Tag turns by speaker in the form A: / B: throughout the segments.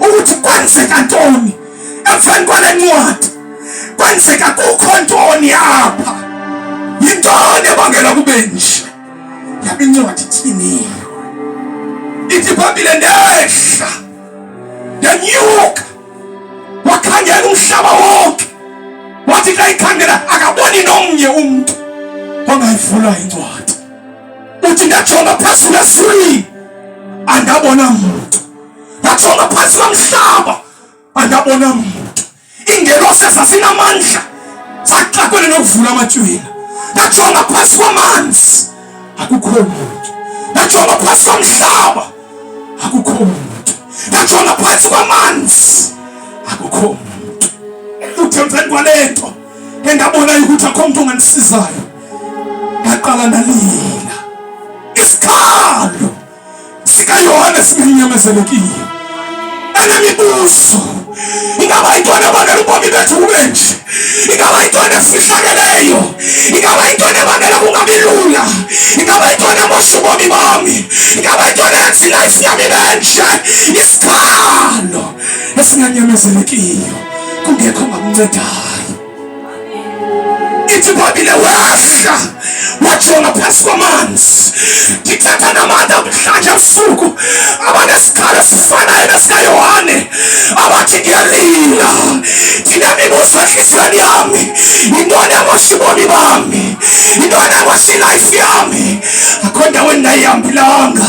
A: ukuthi kwenzeka ntoni emveni kwale ncwadi kwenzeka kukho ntoni apha yintoni ebangela kube nje yaba incwadi ithini ithi phambile ndehla ndanyuka wakhangela umhlaba wonke wathi xa ikhangela akaboni nomnye umntu ongayivula incwadi uthi ndajonga phantsi kwescreen andabona mntu ndajonga phantsi kwamhlaba andabona mntu iingelose zazinamandla zaxakwele nokuvula amatyhwila ndajonga phantsi kwamanzi akukho mntu ndajonga phantsi kwamhlaba akukho mntu ndajonga phantsi kwamanzi akukho mntu uthemveni kwale nto engabona ukuthi akho mntu ongandisizayo ndaqala ndalila isikhalo sikayohane simenyamezelekile enemibuzo ingaba yintoni ebangela ubomi bethu kube nje ingaba yintoni esifihlakeleyo ingaba yintoni ebangela kungabi lula ingaba yintoni emosha ubomi bami ingaba yintoni yenza ilayifi yami benje isikhalo esinganyamezelekiyo kungekho ngamncedayo ithi babile wehla wajonga phantsi kwamanzi ndithetha namandla mhlanje busuku abanesikhalo esifanayo nesikayohane abathi ndiyalila ndinemibuzo entliziyweni yami yintoni amosha ubomi bami yintoni amosha ilayifu yami akho ndaweni ndayihambelanga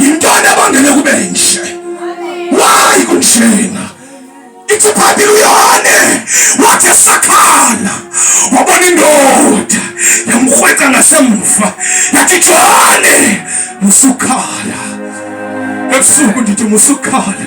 A: yintoni ebangele kube nje wayi kunjena itsiphabile uyone wathi esakhala wabona indoda yamkrwetha ngasemva yathi jone musukhala ebusuku ndithi musukhala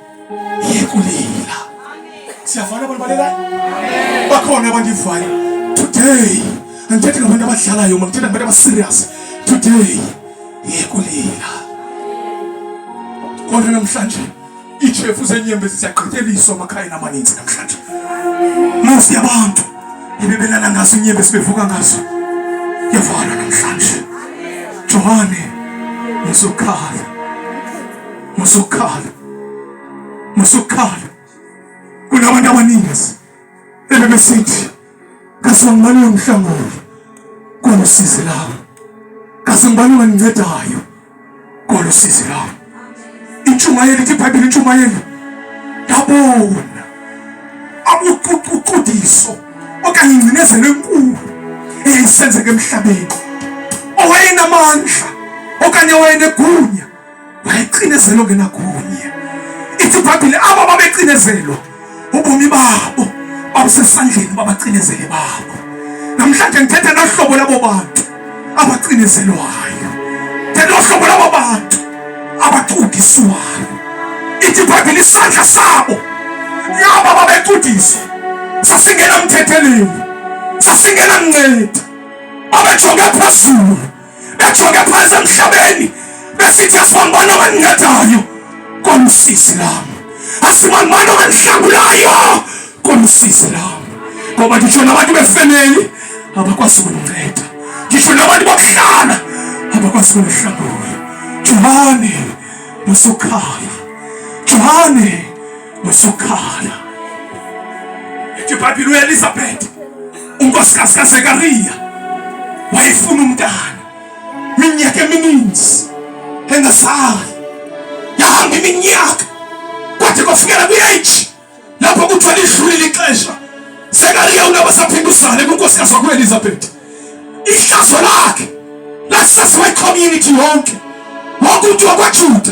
A: yekulila siyavana abantu balela bakhona abandivayo today andithethi ngabantu abadlalayo ma ndithetha ngabantu abaserious today yekulila kodwa namhlanje iitshefu zeenyembezi ziyagqityeliswa amakhayeni amaninzi namhlanje musi yabantu ebebelala ngazo inyembezi bevuka ngazo yavana namhlanje johane nezokhala Musukhala. Musukhala. Kunabantu abaningi ebebesithi kaze ngibani nomhlangano kolusizi lami. Kaze ngibani ongangincedayo kolusizi lami. Intshumayelo ithi iBhayibheli intshumayelo yabona abuququdiso okanye ingcinezelo enkulu eyayisenzeka emhlabeni owayenamandla okanye owayenegunya mayicinezelo ke nakunye ithi ibhayibhile abo babecinezelo ubomi babo babusesandleni babacinezele babo namhlanje ngithetha nohlobo labo bantu abacinezelwayo thetha nohlobo labo bantu abacudiswayo ithi ibhayibhile isandla sabo nabo babecudiswa sasingena mthetheleni sasingena mnceda babejonge phezulu bejonge phantsi emhlabeni besithi asibambana owendincadayo kolusizi lam asibambana owendihlangulayo kolusizi lam ngoba nditsho nabantu befemeli abakwazi ukundinceda nditsho nabantu bokuhlala abakwazi ukundihlangula johane nosukhala johane nosukhala ethi ibhayibhile uelizabhetha unkosikazi kaZekariya wayefuna umntana minyaka emininzi engazali, yahamba iminyaka kwade kwafikela kwi-age lapho kuthiwa lidlulile ixesha. Zekariya unaba saphinda uzale kunkosikazi wakuelizabeth ihlazo lakhe lasaziwa icommunity yonke wonke umntu wakwajuda